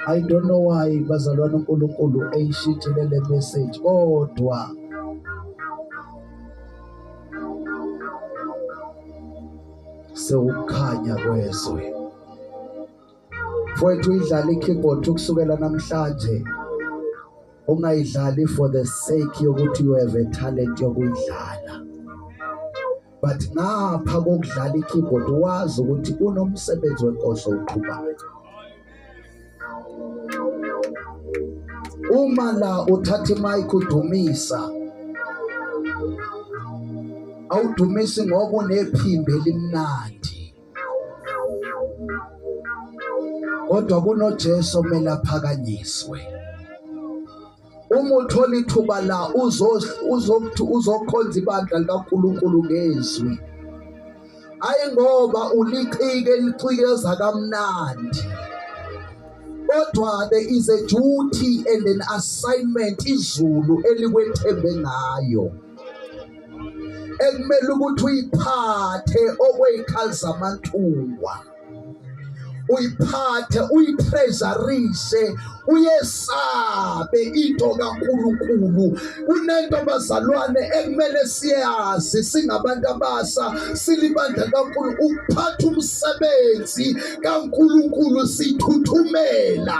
I don't know why bazalwane uNkulunkulu eyishithile le message kodwa sewukhanya kwezwe mfowethu idlala i-keyboard ukusukela namhlanje ungayidlali for the sake yokuthi you have a talent yokuyidlala but ngapha kokudlala ikeyboard wazi ukuthi unomsebenzi wenkosi oqhubayo uma la uthatha imic udumisa awudumisi ngoba unephimbo elimnandi kodwa kunoJesu omele aphakanyiswe uma uthola ithuba la uzokuthi uzokhonza ibandla likaNkulunkulu ngezwi ayi ngoba ulicike licikeza kamnandi kodwa there is a duty and an assignment izulu elikwethembe ngayo ekumele ukuthi uyiphathe okweyikhali zamantuwa uyiphathe uyitreasurise uyesabe into kaNkuluNkulu kunento bazalwane ekumele siyazi singabantu abasa silibandla kaNkulu ukuphatha umsebenzi kaNkuluNkulu sithuthumela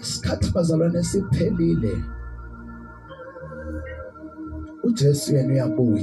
isikhathi bazalwane siphelile uJesu yena uyabuya